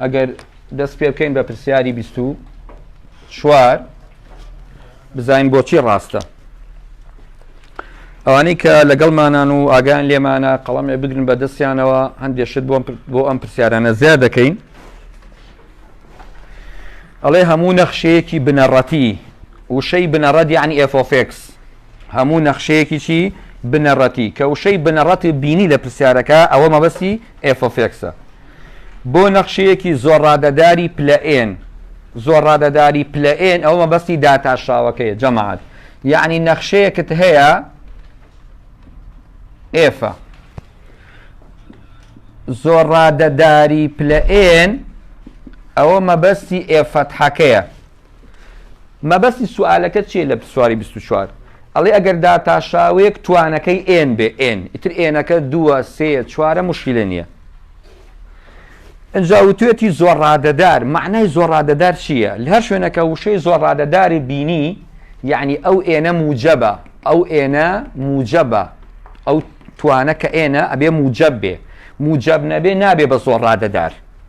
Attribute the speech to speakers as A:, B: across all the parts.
A: ئەگەر دەست پێ بکەین بە پرسیاری بیست و چوار بزانین بۆچی ڕاستە ئەوانەی کە لەگەڵمانان و ئاگان لێمانە قەڵەمێ بگرن بە دەستیانەوە هەندێک شت بۆم بۆ ئەم پرسیارانە زیاد دەکەین ئەڵێ هەموو نەخشەیەکی بنەڕەتی وشەی بنەڕەت یعنی ئفۆفێکس هەموو نەخشەیەکی چی بنەڕەتی کە وشەی بنەڕەت بینی لە پرسیارەکە ئەوە مەبەستی ئێفۆفێکسە بۆ نەخشەیەکی زۆر ڕادەداری پلە ئێن زۆر ڕادەداری پلە ئێن ئەوە مەبەستی داتاشاوەکەی جەماعات یعنی نەخشەیەکت هەیە ئێفە زۆر ڕادەداری پلە ئێن ئەوە مەبەستی ئێفەتحەکەیە مەبەستی سوالەکەت چیە لە سواری بیست و چوار؟ ئەڵێ ئەگەر داتاشاوێک توانەکەی ئێن بێ ئێن ئیتر ئێنەکە دووە سێیە چوارە مشکلە نییە ئەجا وتێتی زۆر ڕادەدار معنای زۆر ڕادەدار چییە لە هەر شوێنەکە وشەی زۆر ڕادەداری بینی یعنی ئەو ئێنە موجەبە ئەو ئێنە موجەبە ئەو توانە کە ئێنە ئەبێ موجەب بێ موجەب نەبێ نابێ بە زۆر ڕادەدار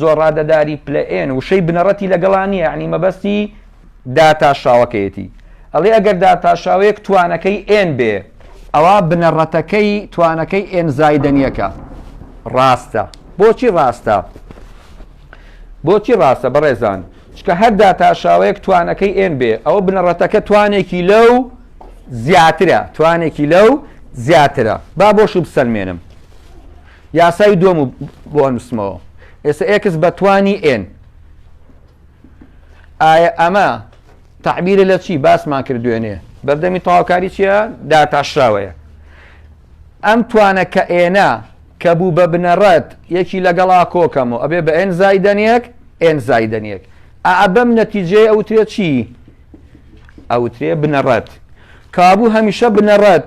A: زۆڕادەداری پلە ئێن وشەی بنەڕەتی لەگەڵا نییە یەعنی مەبەستی داتاشاوەکەیەتی ئەڵێ ئەگەر داتاشاوەیەک توانەکەی ئێن بێ ئەوا بنەڕەتەکەی توانەکەی ئێن زایدەن یەکە ڕاستە بۆچی ڕاستە بۆچی ڕاستە بەڕێزان چکە هەر داتاشاوەیەک توانەکەی ئێن بێ ئەوە بنەڕەتەکە توانێکی لەو زیاترە توانێکی لەو زیاترە با بۆ شو بسەلمێنم یاسای دووەم و بۆ ئەنووسمەوە. ئێستا ئێکس بە توانی ئێن. ئایا ئەمە تەعبیرە لە چی باسمان کرد دوێنێ بەردەمی تەواوکاری چییە داتاشراوەیە ئەم توانە کە ئێنە کە بوو بە بنەڕەت یەکی لەگەڵا کۆکەم و ئەبێ بە ئێن زایدەنیەک ئێن زایدەنیەک ئابەم نەتیجەیە ئەوترێت چی ئەوترێ بنەڕەت کابوو هەمیشە بنەڕەت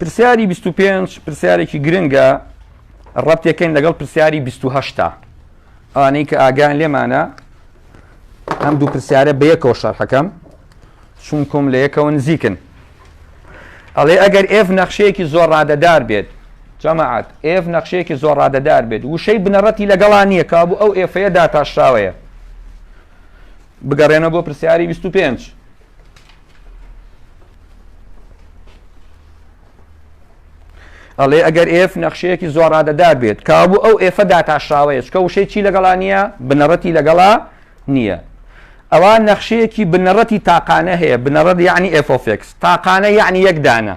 A: پرسیاری بیست و پێنج پرسیارێکی گرنگە ڕەبتێکەین لەگەڵ پرسیاری بیست و هەشتا ئەوانەی کە ئاگان لێمانە ئەم دوو پرسیارە بە یەکەوە شەرحەکەم چونکم لە یەکەوە نزیکن ئەڵێ ئەگەر ئێف نەخشەیەکی زۆر ڕادەدار بێت جەماعات ئێف نەخشەیەکی زۆر ڕادەدار بێت وشەی بنەڕەتی لەگەڵا نییە کابوو ئەو ئێفەیە داتاشراوەیە بگەڕێنە بۆ پرسیاری بیست و پێنج. ئەڵێ ئەگەر ئێف نەخشەیەکی زۆر ڕادەدار بێت کابوو ئەو ئێفە داتاشراوەیە چکە وشەی چی لەگەڵا نییە بنەڕەتی لەگەڵا نییە ئەوە نەخشەیەکی بنەڕەتی تاقانە هەیە بنەڕەت یعنی ئێفۆفێکس تاقانە یعنی یەکدانە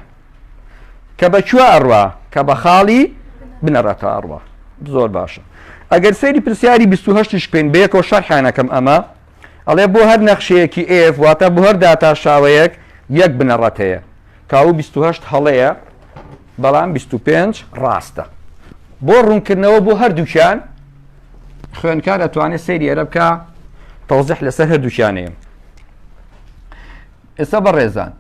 A: کە بە کوێ ئەڕوا کە بە خاڵی بنەڕەتە ئەڕوا زۆر باشە ئەگەر سەیری پرسیاری 28 شکەین بەیەکەوە شەرحانەکەم ئەمە ئەڵێ بۆ هەر نەخشەیەکی ئێف واتە بۆ هەر داتا شاوەیەک یەک بنەڕەت هەیە کاو 28 هەڵەیە بەڵام 25 ڕاستە بۆ ڕوونکردنەوە بۆ هەردووکیان خوێنکار ئەتوانێت سەیری ئەرە بکە تەوزح لەسەر هەردووکیانەیە ئێستا بەڕێزان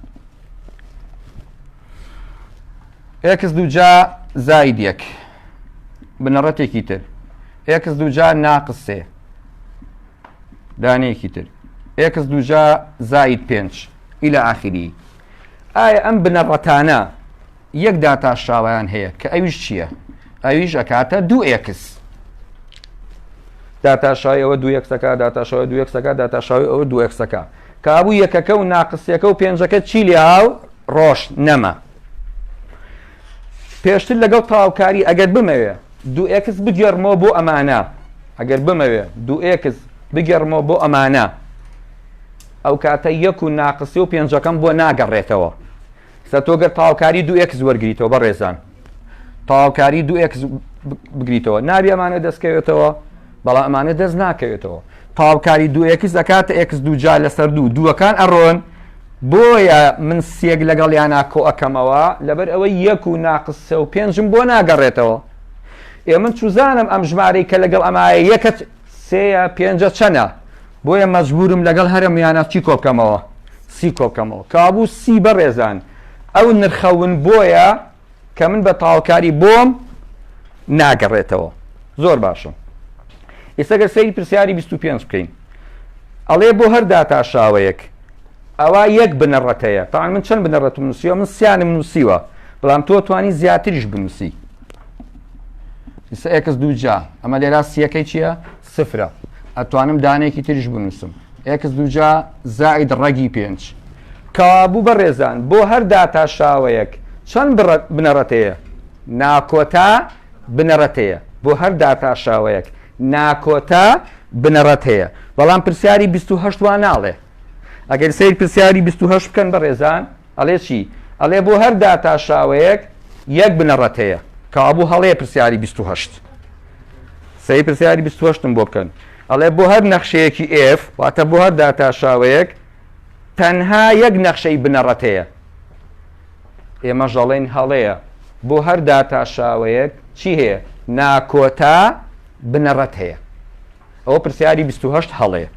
A: ئێکس دووجا زاید یەک بنەڕەتێکی تر ئێکس دووجا ناقس سێ دانەیەکی تر ئێکس دووجا زاید پێنج ئیلا ئاخری ئایا ئەم بنەڕەتانە یەک داتاشراوەیان هەیە کە ئەویش چییە ئەویش ئەکاتە دوو ئێکس داتاشای ئەوە دو یەکسەکە داتاشەوە دو یەکسەکە داتاشاوی ئەوە دو یەکسەکە کابوو یەکەکە و ناقسیەکە و پێنجەکە چی لێ هاو ڕۆژ نەما پێشتر لەگەڵ تاوکاری ئەگەر بمەوێ دو ئێکس بگێڕمەوە بۆ ئەمانە ئەگەر بمەوێ دو ئێکس بگێڕمەوە بۆ ئەمانە ئەو کاتە یەک و ناقسی و پێنجەکەم بۆ ناگەڕێتەوە سا تۆ گەر تاوکاری دو ئکس وەرگیتەوە بە ڕێزان تاوکاری دو ئکس بگریتەوە نابی ئەمانە دەستکەوێتەوە بەڵام ئەمانە دەست ناکەوێتەوە تاوکاری دو ئکس دەکاتە ئکس دوجا لەسەر دوو دووەکان ئەڕۆن بۆیە من سێک لەگەڵ یانا کۆ ئەەکەمەوە لەبەر ئەوەی یەک و ناقس سە و پێنجم بۆ ناگەڕێتەوە ئێ من چوزانم ئەم ژمارەی کە لەگەڵ ئەمایە یەکەت سێ یا پێنجە چەنە؟ بۆیە مەجبورم لەگەڵ هەرە میانە چی کۆبکەمەوە؟ سی کۆبکەمەوە. کابوو سی بەڕێزان ئەو نرخە ون بۆیە کە من بە تاوکاری بۆم ناگەڕێتەوە. زۆر باشە. ئێستا گەر سەیری پرسیاری 25 بکەین. ئەڵێ بۆ هەر داتاشاوەیەک ئەوە یەک بنەڕەتەیە تاان من چەند بنەڕەتم نووسیوە من سیانم نووسیوە بەڵام تۆ توانی زیاتریش بنووسی ئیستا ئێکس دوو جا ئەمە لێرا سیەکەی چییە سفرە ئەتوانم دانێکی تریش بنووسم ئێکس دوو جا زائید ڕەگی پێنج کابوو بە ڕێزان بۆ هەر داتا شاوەیەک چەند بنەڕەتەیە ناکۆتا بنەڕەتەیە بۆ هەر داتا شاوەیەک ناکۆتا بنەڕەت هەیە بەڵام پرسیاری 28 وان ناڵێ ئەگەر سەیر پرسیاری بیست و هەشت بکەن بەڕێزان ئەڵێ چی ئەڵێ بۆ هەر داتاشاوەیەک یەک بنەڕەت هەیە کابوو هەڵەیە پرسیاری بیست و هەشت سەیر پرسیاری بیست و هەشتم بۆ بکەن ئەڵێ بۆ هەر نەخشەیەکی ئێف واتە بۆ هەر داتاشاوەیەک تەنها یەک نەخشەی بنەڕەت هەیە ئێمە ژەڵێن هەڵەیە بۆ هەر داتاشاوەیەک چی هەیە ناکۆتا بنەڕەت هەیە ئەوە پرسیاری بیست و هەشت هەڵەیە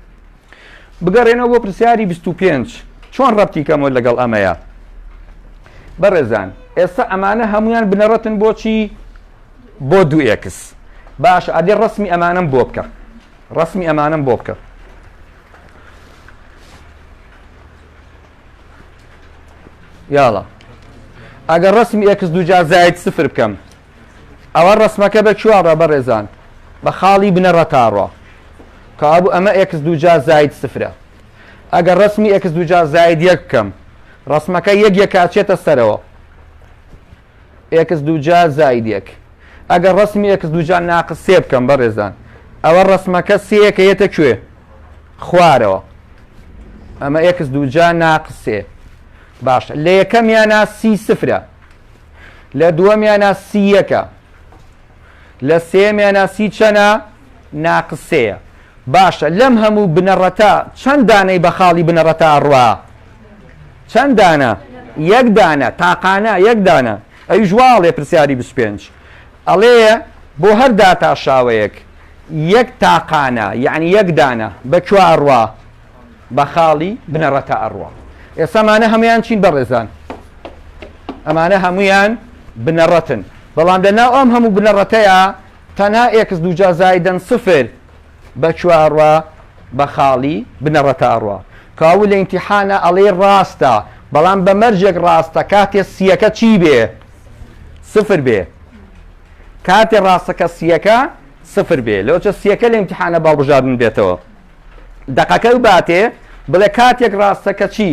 A: بگەڕێنەوە بۆ پرسیاری بیست و پێنج چۆن ڕەبتی کەمەوە لەگەڵ ئەمەیە بەڕێزان ئێستا ئەمانە هەمویان بنەڕەتن بۆچی بۆ دوو ئێکس باش ئەدێ ڕسمی ئەمانم بۆ بکە ڕسمی ئەمانم بۆ بکە یاڵە ئەگەر ڕسمی ئێکس دوجا زایت سفر بکەم ئەوە ڕەسمەکە بە کیوا ڕە بەڕێزان بە خاڵی بنەڕە تا ڕۆ کابوو ئەمە ئێکس دوجا زاید سفرە ئەگەر ڕسمی ئێکس دوجا زاید یەک بکەم ڕسمەکە یەک یەکچێتە سەرەوە ئێکس دوجا زاید یەک ئەگەر ڕسمی ئێکس دوجا ناقس سێ بکەم بەڕێزان ئەوە ڕسمەکە سەکە یەتە کوێ خوارەوە ئەمە ئێکس دوجا ناقسێ باشە لە یەکەم یانا سی سفرە لە دووەمیانا سی یەکە لە سێمیانا سی چەنە ناقس سێە باشە لەم هەموو بنەڕەتە چەند دانەی بە خاڵی بنەڕەتە ئەڕوا چەند دانە یەک دانە تاقانە یەک دانە ئەوی ژواڵێ پرسیاری 25 ئەڵێ بۆ هەر داتا شاوەیەک یەک تاقانە یعنی یەک دانە بە کوێ ئەڕوا بە خاڵی بنەڕەتا ئەڕوا ئێستا مانە هەمویان چین بەڕێزان ئەمانە هەمویان بنەڕەتن بەڵام لە ناو ئەم هەموو بنەڕەتەیە تەنها ئێکس دوجا زایدەن سفر بە چوارڕە بە خاڵی بنەڕەتە ئەڕوا کاو لە ئینتیحانە ئەڵێ ڕاستە بەڵام بە مەرجێک ڕاستە کاتێ سیەکە چی بێ سفر بێ کاتێ ڕاستەکە سیەکە سفر بێ لەوچە سیەکە لە ئینتیحانە باڵبژاردن بێتەوە دەقەکەی باتێ بڵێ کاتێک ڕاستە کە چی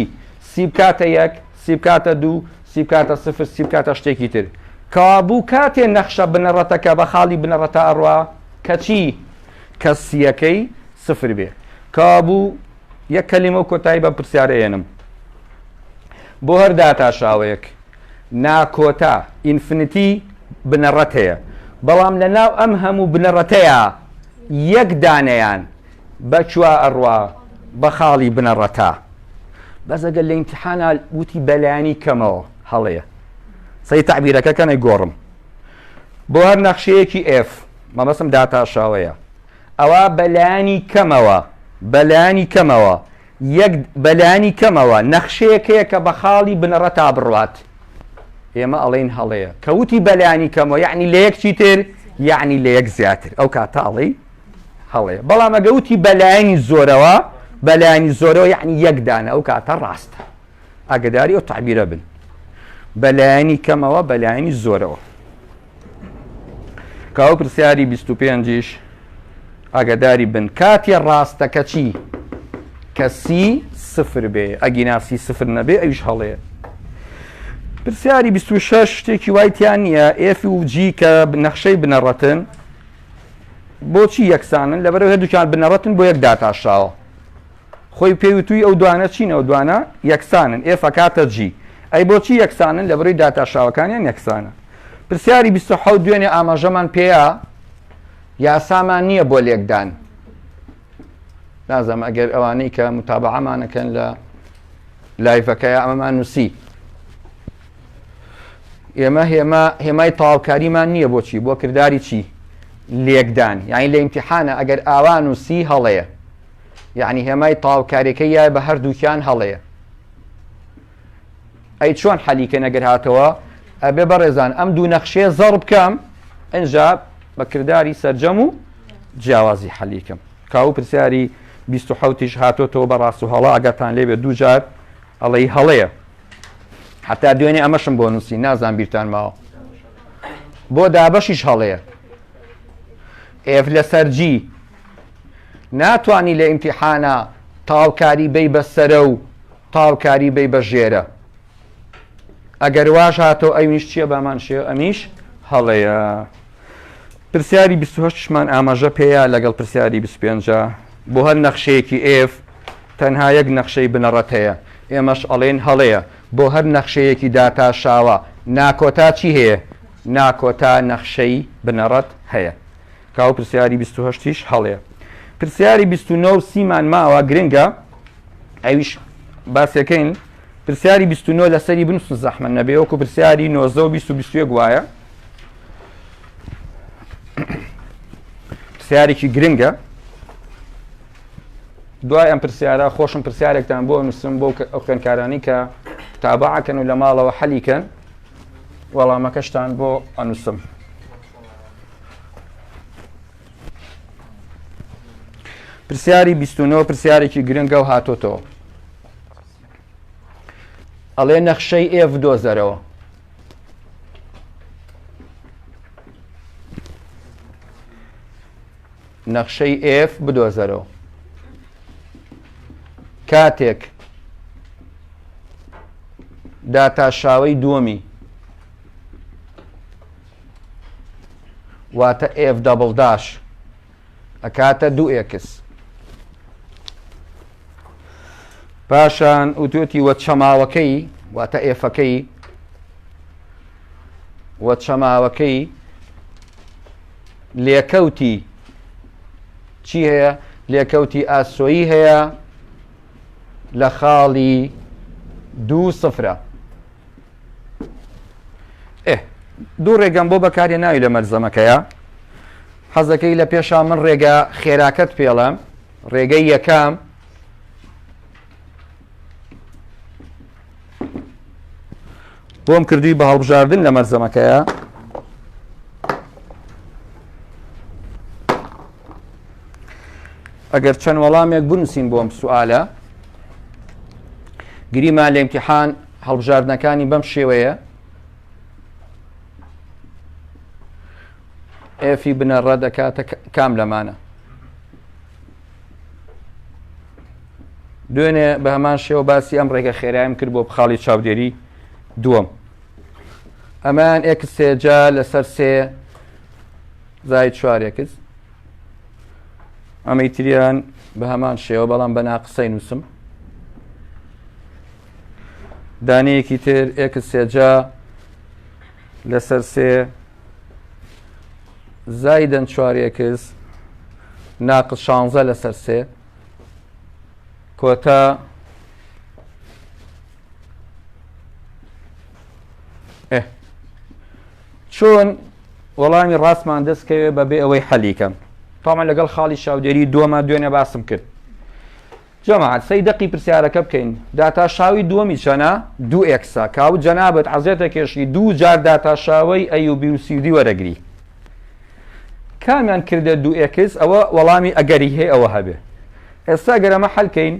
A: سی بکاتە یەک سی بکاتە دوو سی بکاتە سفر سی بکاتە شتێکی تر کەوابوو کاتێ نەخشە بنەڕەتەکە بە خاڵی بنەڕەتە ئەڕوا کەچی کەسیەکەی سفر بێ کابوو یەک کەلیمە و کۆتایی بە پرسیارەێنم بۆ هەر داتا شاوەیەک ناکۆتا، Infinity، بنەڕەت هەیە، بەڵام لە ناو ئەم هەموو بنەڕەتەیا یەک دانەیان بە چوا ئەڕوا بە خاڵی بنەڕەتا. بەس ئەگەر لە ئیمتیحانا وتی بە لایەنی کەمەوە هەڵەیە. سەیر تەعبیرەکە کەن ئەیگۆڕم. بۆ هەر نەخشەیەکی F، مەبەستم داتاشاوەیە، ئەوا بە لایەنی کەمەوە، بە لایەنی کەمەوە یەک، بە لانی کەمەوە، نەخشەیەک هەیە کە بە خاڵی بنەڕەتا بڕوات، ئێمە ئەڵێین هەڵەیە. کە وتی بە لانی کەمەوە یەعنی لە یەک چیتر؟ یەعنی لە یەک زیاتر. ئەو کاتە ئەڵێی هەڵەیە. بەڵام ئەگەر وتی بە لایەنی زۆرەوە، بە لایەنی زۆرەوە یەعنی یەک دانە، ئەو کاتە ڕاستە. ئاگەداری ئەو تەعبیرە بن. بە لایەنی کەمەوە، بە لایەنی زۆرەوە. کاوە پرسیاری بیست و پێنجیش ئاگاداری بن کاتێ ڕاستەکە چی کە سی سفر بێ ئەگینا سی سفر نەبێ ئەویش هەڵێ پرسیاری 26 شتێکی وایتیان نییە ئف و جی کە نەخشەی بنەڕەتن بۆچی یەکسانن لەبەرەوە هەردووکیان بنەڕەتن بۆ یەک داتاشاوە خۆی پێی وتووی ئەو دوانە چین ئەو دوانە یەکسانن ئێف ئەکاتە جی ئەی بۆچی یەکسانن لە بڕی داتاشاوەکانیان یەکسانە پرسیاری 27 دوێنێ ئاماژەمان پێەیە یاسامان نییە بۆ لێکدان نازم ئەگەر ئەوانەی کە متابعەمانەکەن لە لایفەکە ئەمەمان نووسی ئێمە هێما هێمای تاوکاریمان نییە بۆچی بۆ کردداری چی لێکدان یعنی لە ئیمتحانە ئەگەر ئاوان و سی هەڵەیە یعنی هێمای تاوکارێکە یای بە هەردووکیان هەڵەیە ئەی چۆن حەلیکە نەگەر هاتەوە ئەبێ بەڕێزان ئەم دوو نەخشێ زەڕ بکەم ئەجا بە کردداری سرجەم و جیاوازی حەلیکەم کاو پرسیاری 1970 هاتۆتەوە بە ڕاست و هەڵا ئەگەتان لێبێ دووجار ئەڵی هەڵەیە حتا دوێنێ ئەمەشم بۆ نووسی نازان بیرتان ماوە بۆ دابەشیش هەڵەیە ئێف لە سەرجی ناتوانی لە ئیمتیحانا تاوکاری بەی بە سەرە و تاوکاری بەی بە ژێرە ئەگەر واش هاتەوە ئەویش چییە بامان شێ ئەمیش هەڵەیە پرسیاری 28مان ئاماژە پێەیە لەگەڵ پرسیاری 25 بۆ هەر نەخشەیەکی ئف تەنها یەک نەخشەی بنەڕەت هەیە ئێمەش ئەڵێن هەڵەیە بۆ هەر نەخشەیەکی داتا شاوە ناکۆتا چی هەیە ناکۆتا نەخشەی بنەڕەت هەیە کاوە پرسیاری بیست و هەشت یش هەڵەیە پرسیاری بیست و نۆ و سی مان ماوە گرنگە ئەویش باسیەکەین پرسیاری بیست و نۆ لەسەری بنووسن زەحمەت نەبێ وەکو پرسیاری نۆزدە و بیست و بیست و یەک وایە پرسیارێکی گرنگە دوای ئەم پرسیارە خۆشم پرسیارێکتان بۆ نووسم بۆ کە- ئەو خوێندکارانی کە تابعکەن و لە ماڵەوە حەلیکەن وەڵامەکەشتان بۆ ئەنووسم پرسیاری بیستونەوە پرسیارێکی گرنگە و هاتۆتەوە ئەڵێ نەخشەی ئێف دۆزەرەوە نەخشەی ئێف بدۆزەرەوە کاتێک داتاشاوی دووەمی واتە ئێف دەبڵ داش ئەکاتە دوو ئێکس پاشان وتوێتی وە چەماوەکەی واتە ئێفەکەی وە چەماوەکەی لێکەوتی چی هەیە لێکەوتی ئاسۆیی هەیە لە خاڵی دوو سفرە ئێ دوو ڕێگەم بۆ بەکارێ ناوی لە مەلزەمەکەیە حەزەکەی لە پێشا من ڕێگە خێراکەت پێڵم ڕێگەی یەکەم بۆم کردوی بە هەڵبژاردن لە مەرزەمەکەیە ئەگەر چەند وەڵامێک بنووسین بۆم سوالە گریمان لە امتحان هەڵبژاردنەکانی بەم شێوەیە F ی بنەڕە دەکاتە کام لەمانە دوێنێ بە هەمان شێوە باسی ئەم ڕێگە خێرایم کرد بۆ بخاڵی چاودێری دووەم ئەمان ئێکسێجا لەسەر سێ زای چوارێکس ئەمەی تریان بە هەمان شێوە بەڵام بە ناقسەی نووسم دانەیەکی تر ئێکس سێجا لەسەر سێ زایدەن چوارێکس ناقص شانزە لەسەر سێ کۆتا چۆن وەڵامی ڕاستمان دەستکەوێ بەبێ ئەوەی حەلیکەم تامان لەگەڵ خاڵی شاودێری دووەمە دوێنێ باسم کرد جەماعەت سەی دەقی پرسیارەکە بکەین داتا شاوی دووەمی چەنە؟ دوو ئێکسە کا و جەنابت حەزێتە کێشی دوو جار داتا شاوەی ئەی و بی و سی و دی وەرەگری کامیان کردە دوو ئێکس ئەوە وەڵامی ئەگەری هەیە ئەوە هەبێ ئێستا گەر ئەمە حەل کەین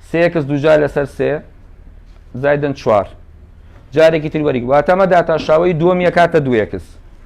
A: سێ ئێکس دوو جار لەسەر سێ زایدن چوار جارێکی تر وەریگ واتەمە داتا شاوەی دووەمیە کاتە دوو ئێکس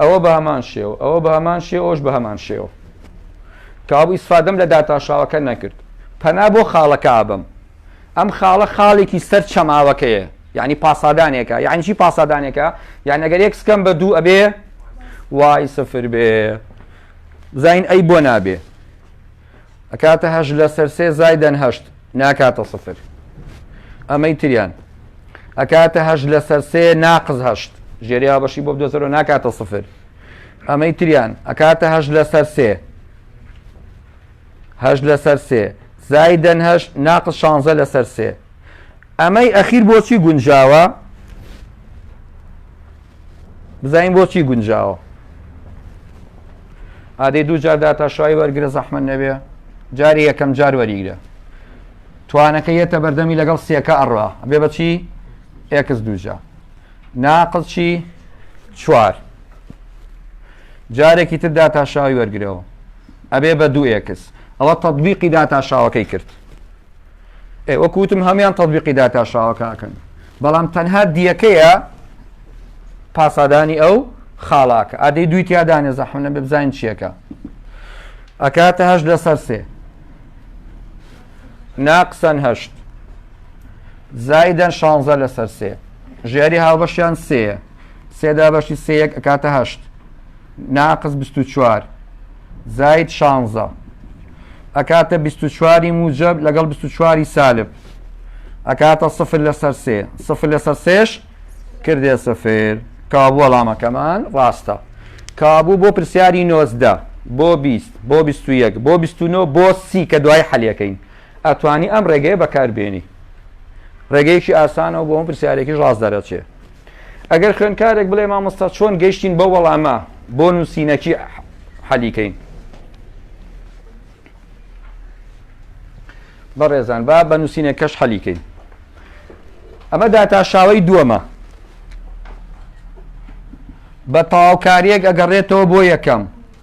A: ئەوە بە هەمان شێوە، ئەوە بە هەمان شێوە، ئەوەش بە هەمان شێوە. کەوابوو ئیسفادەم لە داتاشاوەکە نەکرد. پەنا بۆ خاڵەکە ئەبەم. ئەم خاڵە خاڵێکی سەر چەماوەکەیە. یانی پاسادانێکە. یانی چی پاسادانێکە؟ یانی ئەگەر ئێکس کەم بە دوو ئەبێ وای سفر بێ. بزانین ئەی بۆ نابێ. ئەکاتە هەشت لەسەر سێ زایدەن هەشت ناکاتە سفر ئەمەی تریان ئەکاتە هەشت لەسەر سێ ناقز هەشت ژێریا بەشی بۆ دۆزەرۆ ناکاتە سفر ئەمەی تریان ئەکاتە هەشت لەسەر سێ هەشت لەسەر سێ زایدەن هەشت ناقز شانزە لەسەر سێ ئەمەی ئەخیر بۆچی گونجاوە؟ بزانین بۆچی گونجاوە ئادەی دوو جار داتاشای وەرگرە زەحمە نەبێ جاری یەکەم جار وەریگرە توانەکە یەتە بەردەمی لەگەڵ سێکە ئەڕا بێ بەچی ئێکس دووجا ناقل چی چوار جارێکی تر داتاشاوی وەرگرەوە ئەبێ بە دوو ئێکس ئەوە تطببیقی داتاشاوەکەی کرد وەکو وتم هەموان تەطبیقی داتا شاوەکەکەن بەڵام تەنها دیەکەیە پاسادانی ئەو خاڵاکە ئادەی دوی تیادانێ زەحم نەبێ بزانین چیەکە ئەکاتە هەش لەسەر سێ ناقسەن هەشت زایدەن شانزە لەسەر سێ ژیاری هاوبەشیان سێ سێ دە بەشی سێ یەک ئەکاتە هەشت ناقس بیست و چوار زاید شانزە ئەکاتە بیست و چواری موجب لەگەڵ بیست و چواری سالب ئەکاتە سفر لەسەر سێ سفر لەسەر سێش کردێ سفر کابوو وەڵامەکەمان ڕاستە کابوو بۆ پرسیاری نۆزدە بۆ بیست بۆ بیست و یەک بۆ بیست و نۆ بۆ سی کە دوای حەلەکەین ئەتوانی ئەم ڕێگەیە بەکاربێنی ڕێگەیەکی ئاسانەوە بۆ ئەم پرسیارێکی ڕاست دەرەچێ ئەگەر خوێندکارێک بڵێ مامۆستا چۆن گەیشتین بەو وەڵامە بۆ نووسینەکی حەلیکەین بەڕێزان با بە نووسینە کەش حەلیکەین ئەمە داتاشاوی دووەمە بە تەواوکاریەک ئەگەڕێتەوە بۆ یەکەم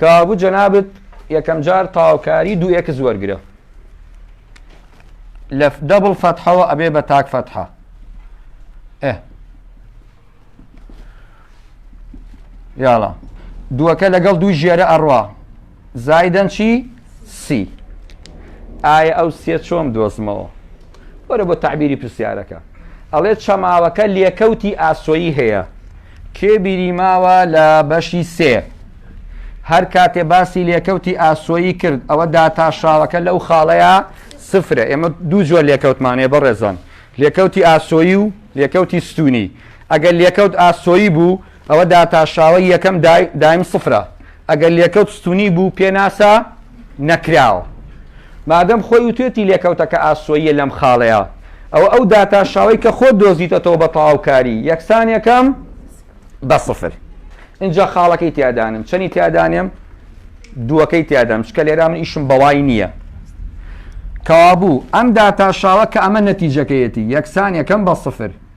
A: کەوابوو جەنابت یەکەمجار تەواوکاری دوو ئێکس وەرگرە لە دەبڵ فەتحەوە ئەبێ بە تاک فەتحە یاڵە دووەکە لەگەڵ دوو ژێرە ئەڕوا زایدەن چی سی ئایا ئەو سێ چۆم دۆزمەوە وەرە بۆ تعبیری پرسیارەکە ئەڵێ چەماوەکە لێکەوتی ئاسۆیی هەیە کێ بیری ماوە لە بەشی سێ هەر کاتێ باسی لێکەوتی ئاسۆیی کرد ئەوە داتا شاوەکە لەو خاڵەیە سفرە ئێمە دوو جۆر لێکەوتمانەیە بەڕێزان لێکەوتی ئاسۆیی و لێکەوتی ستونی ئەگەر لێکەوت ئاسۆیی بوو ئەوە داتا شاوە یەکەم دایم سفرە ئەگەر لێکەوت ستونی بوو پێناسە نەکراوە. مادەم خۆی وتوێتی لێکەوتەکە ئاسۆییە لەم خاڵەیا، ئەوە ئەو داتاشاوەی کە خۆت دۆزیتەتەوە بە تەواوکاری یەکسان یەکەم بە سفر. ئینجا خاڵەکەی تیا دانێم. چەنی تیا دانێم؟ دووەکەی تیا دانم. چکە لێرا من ئیشم بەوای نییە. کەوابوو ئەم داتاشاوە کە ئەمە نەتیجەکەیەتی یەکسان یەکەم بە سفر.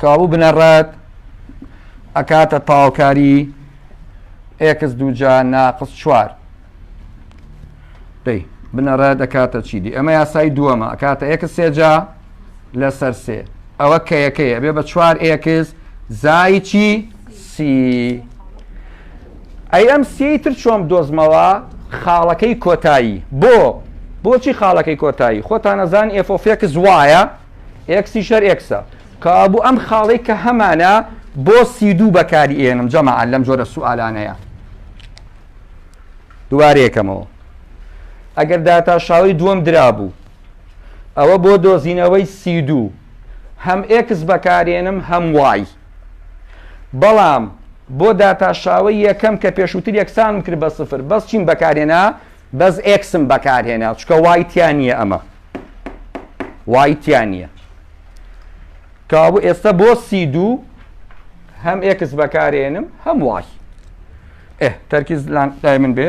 A: کەوابوو بنەڕەت ئەکاتە تاوکاری ئێکس دووجا ناقس چوار دەی بنەڕە دەکاتە چی دی ئەمە یاسای دووەمە ئەکاتە ئێکس سێجا لەسەر سێ ئەوە کە یەکەیە بێ بە چوار ئێکس زای چی سی ئەی ئەم سێی تر چۆن بدۆزمەوە خاڵەکەی کۆتایی بۆ بۆچی خاڵەکەی کۆتایی خۆتانەزان ئێفۆفێکس وایە ئێکسی شەر ئێکسە کابوو ئەم خاڵی کە هەمانە بۆ سی دوو بەکاری ئێنم جەماعەن لەم جۆرە سوالانەیە دوارێکەمەوە ئەگەر داتاشاوی دووەم درابوو ئەوە بۆ دۆزینەوەی سی دوو هەم ئێکس بەکارێنم هەم وای بەڵام بۆ داتا شاوەی یەکەم کە پێشووتر یەکسانم کرد بە سفر بەس چیم بەکارهێنا بەس ئێکسم بەکارهێنا چکە وای تیا نییە ئەمە وای تیا نییە کابوو ئێستا بۆ سی دوو هەم ئێکس بەکارێنم هەم وای ئێ تەرکیز لای من بێ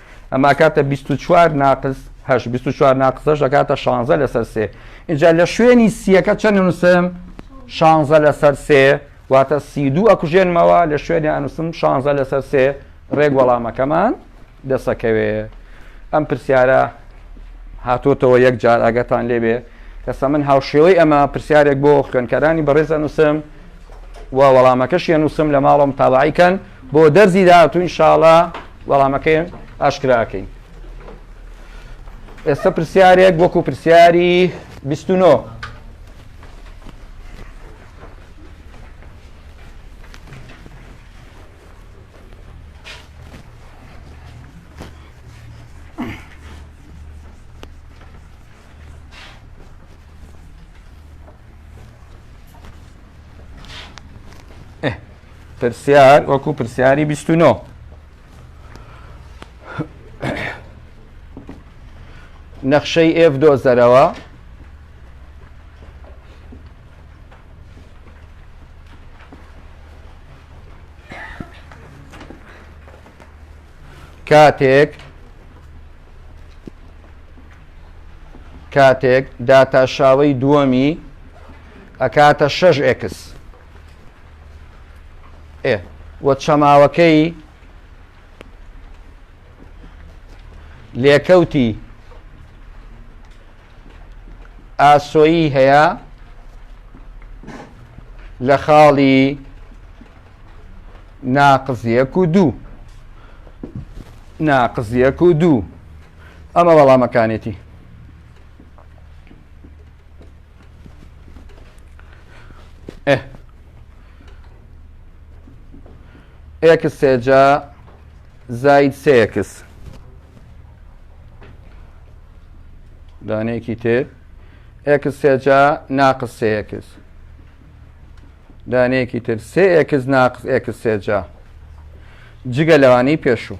A: ئەمە ئەکاتە 24 ناقز هەش 24 ناقزەش دەکاتە 16 لەسەر سێ اینجا لە شوێنی سیەکە چەند نووسم 16 لەسەر سێ واتە سی دوو ئەکوژێنمەوە لە شوێنی ئەنووسم 16 لەسەر سێ ڕێک وەڵامەکەمان دەسەکەوێ ئەم پرسیارە هاتۆتەوە یەک جار ئاگەتان لێبێ کەسە من هاوشێوەی ئەمە پرسیارێک بۆ خوێنکەرانی بەڕێزە نووسم و وەڵامەکەش یە نووسم لە ماڵم تاواعیکەن بۆ دەرزی داهاتوو ئینشاڵا وەڵامەکەی ئاشکرا ئەکەین ئێستا پرسیارێک وەکو پرسیاری 29 Yeah. پرسیار وەکو پرسیاری بیست و نۆ نەخشەی ئێف دۆزەرەوە کاتێک کاتێک داتاشاوی دووەمی ئەکاتە 6 ئکس ئێ و چەماوەکەی لێکەوتی ئاسۆیی هەیە لە خاڵی ناقزیەک و دوو ناقزیەک و دوو ئەمە وەڵامەکانێتی ئه ئێکس سێجا زاید سێکس دانەیەکی تر ئێکس سێجا ناقس سێکس دانەیەکی تر سێ ئێکس ناقس ئێکس سێجا جگە لەوانەی پێشوو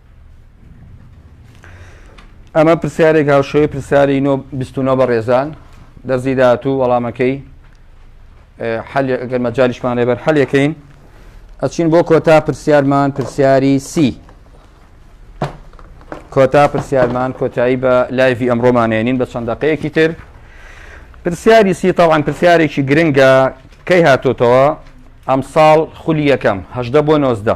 A: ئەمە پرسیارێک هاوشێوەی پرسیاری نۆ بیست و نۆ بە ڕێزان دەرزی داهاتوو وەڵامەکەی حل ئەگەر مەجالیشمان لێبەر حل یەکەین ئەچین بۆ کۆتا پرسیارمان پرسیاری سی کۆتا پرسیارمان کۆتایی بە لایڤی ئەمڕۆمانێنین بە چەند دقەیەکی تر پرسیاری سی تاوان پرسیارێکی گرنگە کەی هاتۆتەوە ئەمساڵ خولی یەکەم هەشدە بۆ نۆزدە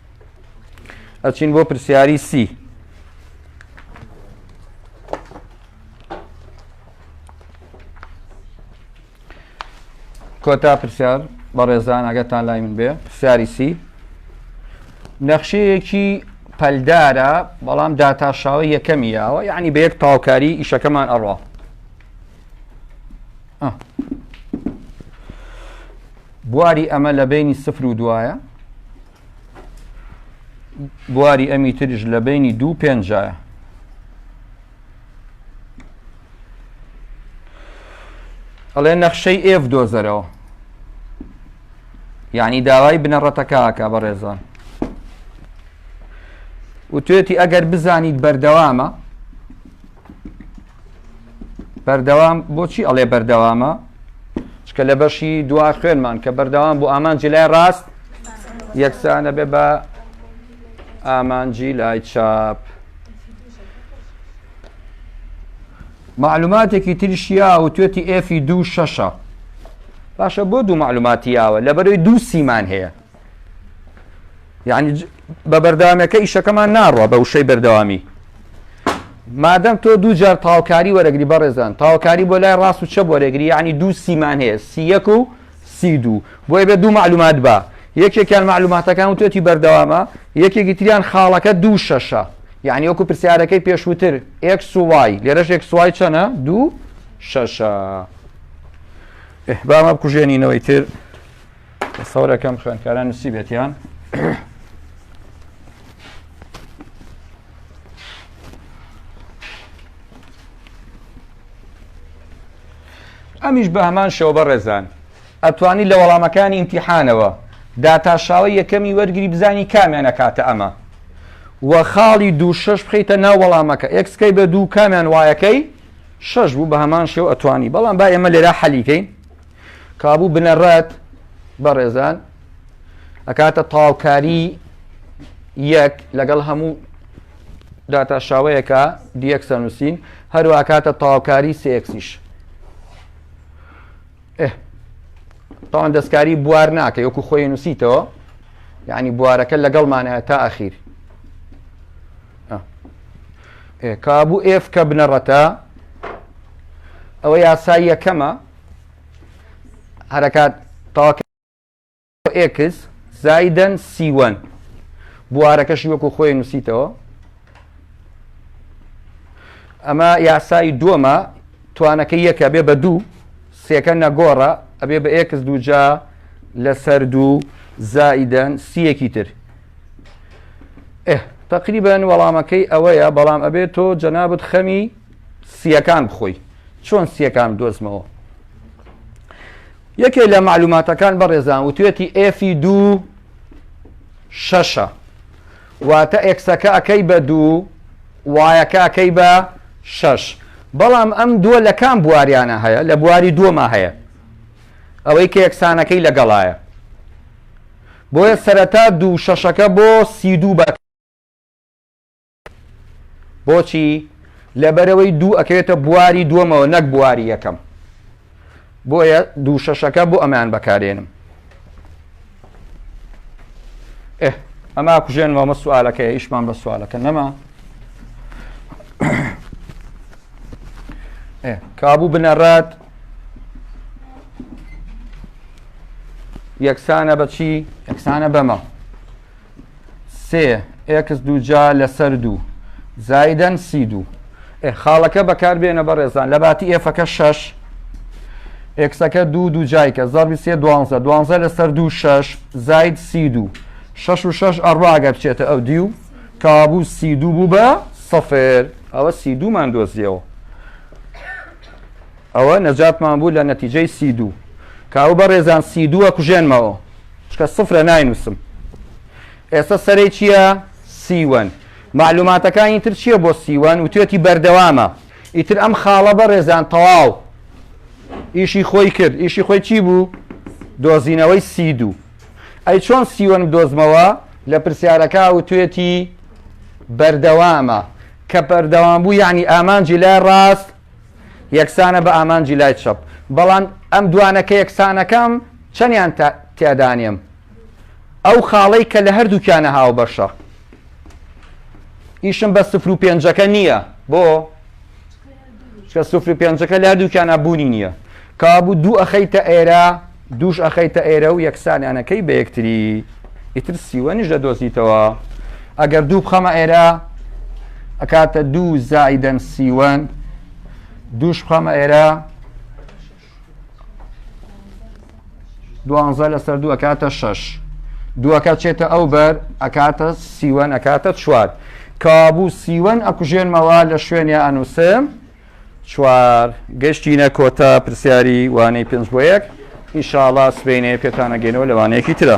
A: ئەچین بۆ پرسیاری سی کۆتا پرسیار بەڕێزان ئەگەتان لای من بێ پرسیاری سی نەخشەیەکی پەلدارە بەڵام داتاشاوە یەکەمی یاوە یعنی بە یەک تاوکاری ئیشەکەمان ئەڕوا بواری ئەمە لە بەینی سفر و دوایە بواری ئەمی ترش لە بەینی دوو پێنجایە ئەڵێ نەخشەی ئێف دۆزەرەوە یعنی داوای بنەڕەتەکەکە بەڕێزان و توێتی ئەگەر بزانیت بەردەوامە بەردەوام بۆچی ئەڵێ بەردەوامە چکە لە بەشی دوا خوێنمان کە بەردەوام بۆ ئامانجی لای ڕاست یەکسانە بێ بە ئامانجی لای چاپ معلوماتێکی تریشیا و توێتی ئێفی دوو شەشە باشە بۆ دوو معلوماتیاوە لەبەرەوەی دوو سیمان هەیە یعنی بە بەردەوامەکە ئیشەکەمان ناڕوە بە وشەی بەردەوامی مادەم تۆ دوو جار تاوکاری وەرەگری بەڕێزان تاوکاری بۆ لای ڕاست و چە بۆ رێگری یعنی دوو سیمان هەیە سیەک و سی دوو بۆیە بێ دوو معلومات بە یەکێکیان معلوماتەکان و تۆتی بەردەوامە یەکێکی تریان خاڵەکە دوو شەشە یعنی وەکو پرسیارەکەی پێشووتر ئێک سوای لێرەش ئێک سوای چەنە دوو شەشە بامە بکوژێنینەوەی تر سەورەکەم خوێنکاران نووسی بێتیان ئەمیش بە هەمان شەوە بە ڕێزان ئەتوانی لە وەڵامەکانی ئیمتیحانەوە داتاشاوە یەکەمی وەرگری بزانی کامیانە کاتە ئەمە و خاڵی دوو شش بخیتە ناو وەڵامەکە ئەکسکەی بە دوو کامیان وایەکەی شش بوو بە هەمان شێو ئەتوانی بەڵام با ئێمە لێرا حەلیکەین کابوو بنەڕەت بەڕێزان ئەکاتە تاوکاری یەک لەگەڵ هەموو داتا شاوەیەەکە دیەکسە نووسین هەروە ئەکاتە تاوکاری سێکسیش تاوان دەستکاری بوار ناکە یوەکو خۆی نووسیتەوە یعنی بوارەکە لەگەڵمانە تا ئەخیر کابوو ئێف کە بنەڕەتە ئەوە یاسای یەکەمە هەرکات تاک ئێکس زایدەن سیوەن بوارەکەشی وەکو خۆی نووسیتەوە ئەمە یاسایی دووەمە توانەکە یەکە بێ بە دوو سێکە نەگۆڕە ئەبێ بە ئێکس دووجا لەسەر دوو زائیدەن سیەکی تر تقریبان وەڵامەکەی ئەوەیە بەڵام ئەبێت تۆ جەنابەت خەمی سییەکان بخۆی چۆن سییەکان بدۆزمەوە یەکێ لە معلوماتەکان بەڕێزان وتێتی ئێفی دوو شەشە واتە ئێکسەکە ئەەکەی بە دوو وایەکە ئەەکەی بە شەش بەڵام ئەم دووە لە کام بواریانە هەیە لە بواری دووەما هەیە ئەوەی کە یەکسانەکەی لەگەڵایە بۆیە سەرەتا دوو شەشەکە بۆ سی دوو بە بۆچی لەبەرەوەی دوو ئەکەوێتە بواری دووەمەوە نەک بواری یەکەم بۆیە دوو شەشەکە بۆ ئەمان بەکارێنم ئەما کوژێن مامە سوالەکە ئیشمان بە سوالەکە نەما کابوو بنەڕات یەکسانە بەچی یەکسانە بەمە سێ ئێکس دووجا لەسەر دوو زایدەن سی دوو خاڵەکە بەکاربێنە بەڕێزان لە باتی ئێفەکە شەش ئێکسەکە دوو دوو جایکە زەڕبی سێ دوانزە دوانزە لەسەر دوو شەش زاید سی دوو شەش و شەش ئەڕواگە بچێتە ئەو دیو کابوو سی دوو بوو بە سەفر ئەوە سی دوومان دۆزیەوە ئەوە نەجاتمان بوو لە نەتیجەی سی دوو کاو بە ڕێزان سی دووە کوژێنمەوە چکە سفرە ناینوسم ئێستا سەرەی چییە سیوەن معلوماتەکانی تر چییە بۆ سیوەن وتێتی بەردەوامە ئیتر ئەم خاڵە بە ڕێزان تەواو ئیشی خۆی کرد ئیشی خۆی چی بوو دۆزینەوەی سی دوو ئەی چۆن سیوەن دۆزمەوە لە پرسیارەکە وتێتی بەردەوامە کە بەردەوام بوو یعنی ئامانجی لای ڕاست یەکسانە بە ئامانجی لای چەپ. بەڵام ئەم دوانە کە یەکسانەکەم چەندیان تیادانێم؟ ئەو خاڵەی کە لە هەردووکیانە هاوبەشە. ئیشم بە سفر و پێنجەکە نییە بۆ چکە سفر و پێنجەکە لە هەردووکیانە بوونی نییە کابوو دوو ئەخەیتە ئێرە دووش ئەخەیتە ئێرە و یەکسانیان ئەکەی بە یەکتری ئیتر سیوەنیش دەدۆزیتەوە ئەگەر دوو بخەمە ئێرە ئەکاتە دوو زایدەن سیوەن دووش بخەمە ئێرە دوانزە لەسەر دوو ئەکاتە شەش دووەکە چێتە ئەو بەر ئەکاتە سیوەن ئەکاتە چوار کابوو سیوەن ئەکوژێنمەوە لە شوێنی ئەنووسم چوار، گەشتینە کۆتا پرسیاری وانەی پێنج بۆ یەک، ان شاء اللە سبەینێ پێتان ئەگەینەوە لە وانەیەکی ترا.